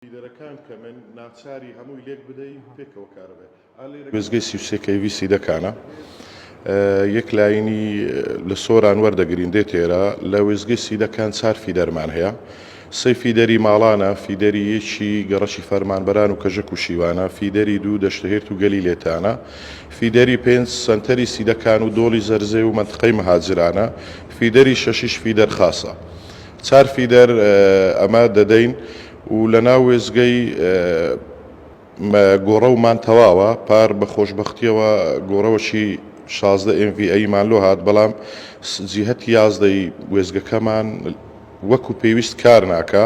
فیدەرەکان کەمن ناچاری هەمووی لێک بدەی پێکەوە کار بێ. وێستگەی سی و سێ کەیڤی سیدەکانە یەک لاینی لە سۆران وەردەگرین دێت ئێرە لە وێستگەی سیدەکان چار فیدەرمان هەیە سەی فیدەری ماڵانە فیدەری یەکی گەڕەکی فەرمانبەران و کەژەک و شیوانە فیدەری دوو دەشتهێرت و گەلی لێتانە فیدەری پێنج سەنتەری سیدەکان و دۆڵی زەرزێ و مەنتقەی مهاجرانە فیدەری شەشیش فیدەر خاسە چار فیدەر ئەمە دەدەین و لە ناو وێستگەی گۆڕەومان تەواوە، پار بە خۆشبەختیەوە گۆڕەوەکی شازدە ئێم ڤی ئەیمان لۆ هات بەڵام جیهەتی یازدە ی وێستگەکەمان وەکو پێویست کار ناکا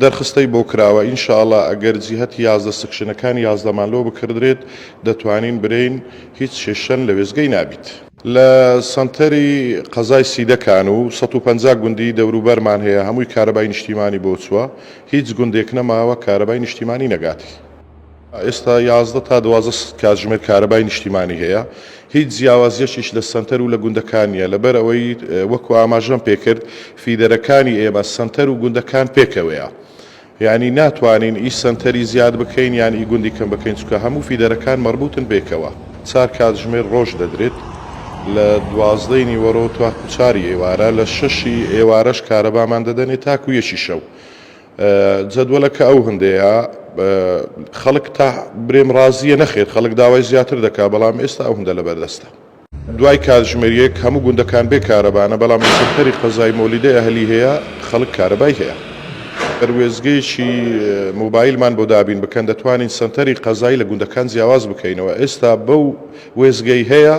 دەرخستەی بۆ کراوە ان شاء اللە ئەگەر جیهەتی یازدە سکشنەکانی یازدەمان لۆ بکردرێت دەتوانین برێین هیچ کێشەن لە وێستگەی نابیت. لە سەنتەری قەزای سیدە کانو سەد و پەنجا گوندی دەوروبەرمان هەیە هەمووی کارەبای نیشتیمانی بۆ چوە هیچ گوندێک نەماوە کارەبای نیشتیمانی نەگاتی. ئێستا یازدە تا دوازدە کاتژمێر کارەبای نیشتیمانی هەیە هیچ جیاوازیەکیش لە سەنتەر و لە گوندەکان نیە لەبەر ئەوەی وەکو ئاماژەم پێکرد فیدەرەکانی ئێمە سەنتەر و گوندەکان پێکەوەیە یانی ناتوانین ئی سەنتەری زیاد بکەین یان ئی گوندی کەم بکەین چونکە هەموو فیدەرەکان مەربوتن بەیەکەوە چار کاتژمێر ڕۆژ دەدرێت لە دوازدەی نیوەڕۆ تاکو چاری ئێوارە لە شەشی ئێوارەش کارەبامان دەدەنێ تاکو یەکی شەو جەدوەلەکە ئەو هەندەیە خەڵک تا برێم ڕازیە نەخێر خەڵک داوای زیاتر دەکا بەڵام ئێستا ئەو هەندە لەبەردەستە. دوای کاتژمێریەک هەموو گوندەکان بێ کارەبانە بەڵام لە سەنتەری قەزای مۆلیدە ئەهلی هەیە خەڵک کارەبای هەیە گەر وێستگەیەکی مۆبایلمان بۆ دابین بکەن دەتوانین سەنتەری قەزای لە گوندەکان جیاواز بکەینەوە ئێستا بەو وێستگەی هەیە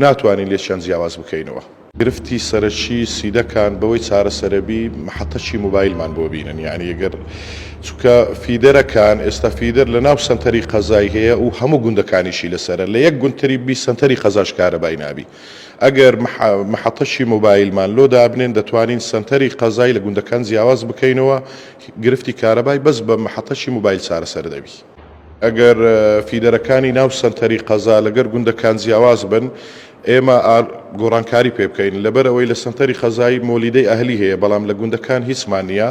ناتوانین لێکیان جیاواز بکەینەوە. گرفتی سەرەکی سیدەکان بەوەی چارەسەرەبی محەتەکی مۆبایلمان بۆ بینن یانی گەر چونکە فیدەرەکان، ئێستا فیدەر لە ناو سەنتەری قەزای هەیە و هەموو گوندەکانیشی لەسەرە، لە یەک گوند تری بی سەنتەری قەزاش کارەبای نابی. ئەگەر مەحەتەکی مۆبایلمان لۆ دابنێن دەتوانین سەنتەری قەزای لە گوندەکان جیاواز بکەینەوە، گرفتی کارەبای بەس بە مەحەتەکی مۆبایل چارەسەر دەبی. ئەگەر فیدەرەکانی ناو سەنتەری قەزا لەگەر گوندەکان جیاواز بن ئێمە ئار گۆڕانکاری پێ بکەین لەبەر ئەوەی لە سەنتەری قەزای مۆلیدەی ئەهلی هەیە بەڵام لە گوندەکان هیچمان نییە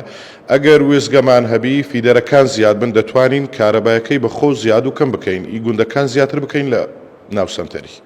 ئەگەر وێستگەمان هەبی فیدەرەکان زیاد بن دەتوانین کارەبایەکەی بە خۆو زیاد و کەم بکەین ئی گوندەکان زیاتر بکەین لە ناو سەنتەری